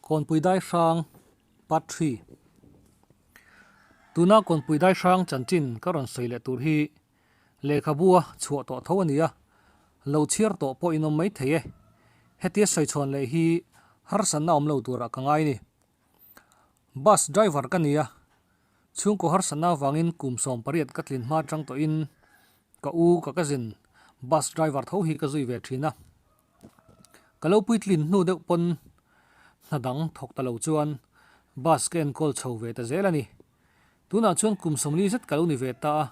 Kawnpui Daihrang Part Three Tuna Kawnpui Daihrang chanchin ka rawn sawi leh tur hi lehkhabua chhuah tawh tho a ni a, lo chhiar tawh pawh inawm mai thei e. Hetia sawi chhawn leh hi harsanna awm lo turah ka ngai a ni. Bus driver ka ni a, chhungkaw harsanna avangin kum sawm pariat ka tlin hma atang tawhin ka u ka ka zin bus driver tho hi ka zui ve thin a. Ka lo puitlin hnu deuh pawn hna dang thawk ta lo chuan bus ka en call chho ve ta zel a ni. Tunah chuan kum sawmli zet ka lo ni ve ta a,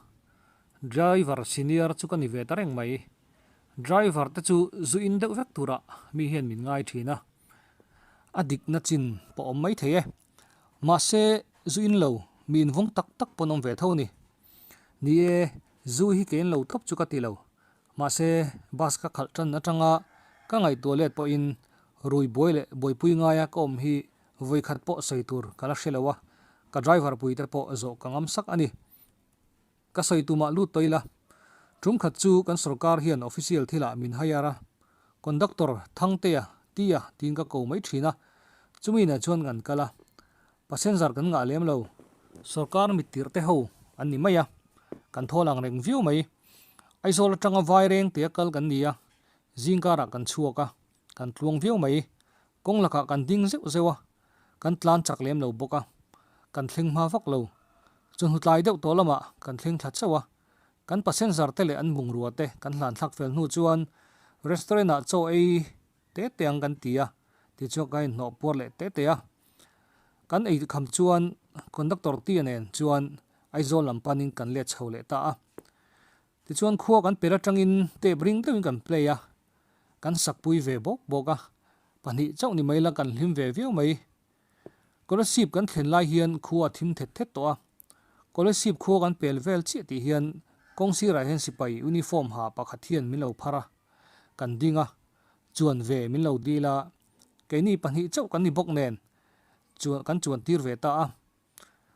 driver senior chu ka ni ve ta reng mai. Driver te chu zu in deuh vek turah mi hian min ngai thin a, a dikna chin pawh awm mai thei e. Mahse, zu in lo, mi invawng tak tak pawn awm ve tho ni. Ni e, zu hi kein lo tawp chu ka ti lo. Mahse, bus ka khalh tan atanga ka ngaihtuah let pawhin Rui Buai leh Buaipui ngaia ka awm hi vawikhat pawh sawi tur ka la hre lo a, ka driver puite pawh zawh ka ngam sak a ni. Ka sawi tumah lut tawh ila. Tumkhat chu kan sorkar hian official thilah min hire a, conductor Thangtea ti a tiin ka ko mai thin a, chumi nai chuan kan kal a, passenger kan ngah lem lo, sorkar mittirhte ho an ni mai a, kan thawl ang reng viau mai. Aizawl atanga Vaireng tia kal kan ni a, zingkarah kan chhuak a, kan tluang viau mai, Kawng lakah kan ding zeuh zeuh a, kan tlan chak lem lo bawk a, kan thleng hma vak lo. Chu hnutlai deuh tawh lamah kan thleng thla chauh a, kan passenger te leh an bungrua te kan hlan thlak fel hnu chuan restaurant ah chaw ei te te ang kan ti a, ti chuan ka inhno puar leh te te a. Kan ei kham chuan conductor tia nen chuan Aizawl lam panin kan let chho leh ta a. Tichuan khua kan perh atangin tape ring deuhin kan play a, kan sakpui ve bawk bawk a, pahnih chauh ni mai la kan hlim ve viau mai. Kolasib kan thlen lai hian khua a thim thet thet tawh a, Kolasib khua kan pel vel chiah tih hian kawng sirah hian sipai uniform ha pakhat hian min lo phar a, kan ding a, chuan ve min lo dil a, keini pahnih chauh kan ni bawk nen chuan kan chuan tir ve ta a.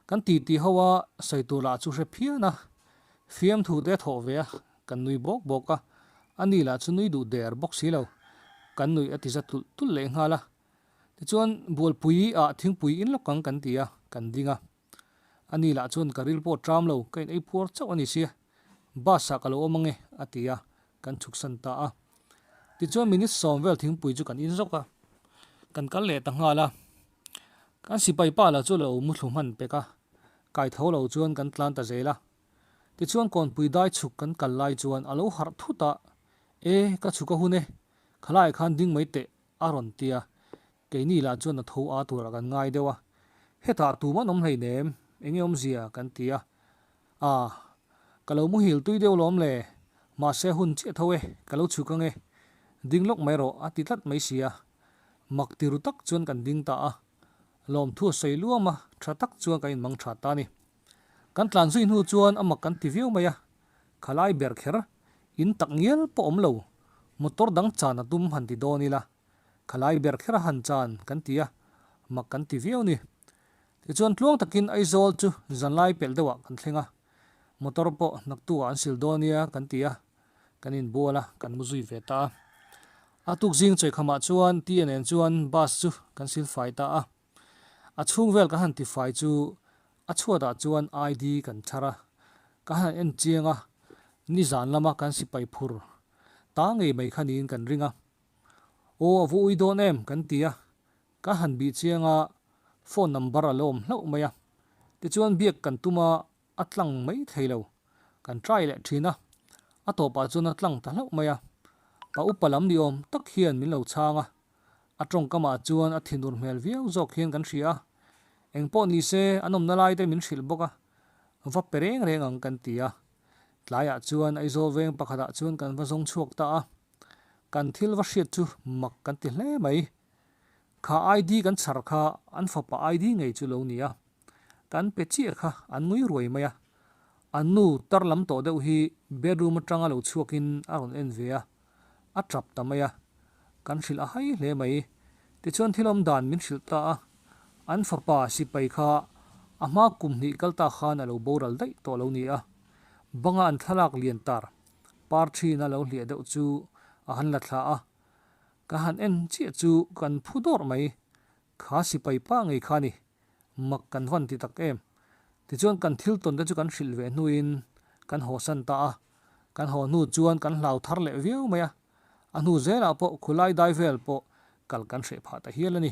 Kan ti ti ho a, sawi turah chu hre phian a, fiam thu te thawh ve a, kan nui bawk bawk a, a ni lah chu nui duh der bawk si lo, kan nuih a ti za tulh tulh leh nghal a. Tichuan Bualpui ah thingpui in lawk ang kan ti a, kan ding a, a ni lah chuan ka rilpawt ṭam lo, ka inei puar chauh a ni si a. Bus ah ka lo awm ange, a ti a, kan chhuksan ta a. Tichuan minute sawm vel thingpui chu kan in zawk a, kan kal leh ta nghal a. Kan sipai pa la chu lo muthlu hman pek a, kai tho lo chuan kan tlan ta zel a. Tichuan Kawnpui dai chhuk kan kal lai chuan a lo harh thut a, E, ka chhuka hun e, khalai khan ding mai teh, A rawn ti a, keini lah chuan a tho a tur a kan ngai deuh a, hetah tum an awm hleinem, eng nge awmzia kan ti a, ah, ka lo muhil tui deuh lawm le, mahse hun chiah tho e, ka lo chhuk ang e, ding lawk mai rawh a ti tlat mai si a, mak ti ru tak chuan kan ding ta a, lawmthu a sawi luam a, tha tak chuan kan inmang tha ta a ni. Kan tlan zui hnu chuan a mak kan ti viau mai a, khalai ber kher, in tak ngial pawh awm lo, motor dang chan a tum han ti dawn ila, khalai ber kher a han chan kan ti a, mak kan ti viau ni. Tichuan tluang takin Aizawl chu zanlai pelh deuhah kan thleng a, motor pawh naktukah an sil dawn nia kan ti a, kan inbual a, kan mu zui ve ta a. A tukzing chawihkhamah chuan TNN chuan bus chu kan sil fai ta a. A chhung vel ka han tifai chu a chhuatah chuan ID kan thar a, ka han en chiang a, nizan lama kan sipai phur ta ngei mai kha niin kan ring a. Aw a vuui dawn em? kan ti a, ka han bih chiang a phone number a lawm hlauh mai a, tichuan biak kan tum a a tlang mai thlei lo, kan try leh thin a, a tawpah chuan a tlang ta hlauh mai a, pa upa lam ni awm tak hian min lo chhang a, a tawngkamah chuan a thinur hmel viau zawk hian kan hria a, eng pawh ni se an awmna lai te min hrilh bawk a, va pe reng reng ang kan ti a, tlaiah chuan Aizawl veng pakhatah chuan kan va zawng chhuak ta a, kan thil va hriat chu mak kan ti hle mai, kha ID kan chhar kha an fapa ID ngei chu lo ni a. Kan pe chiah kha an ngui ruai mai a, an nu tarlam tawh deuh hi bedroom atanga lo chhuakin a rawn en ve a, a tap ta mai a, kan hrilh a hai hle mai. Tichuan thil awm dan min hrilh ta a, an fapa sipai kha a hma kum hnih kal ta khan a lo boral daih tawh lo nia, banga an thlalak lian tar par thin a lo hliah deuh chu a han la thlah a, ka han en chiah chu kan phu dawrh mai, Kha sipai pah ngei kha ni, mak kan van ti tak em. Tichuan kan thil tawnte chu kan hrilh ve hnuin kan haw san ta a, kan haw hnu chuan kan hlau thar leh viau mai a, a hnu zelah pawh khulai dai vel pawh kal kan hreh phah ta hial a ni.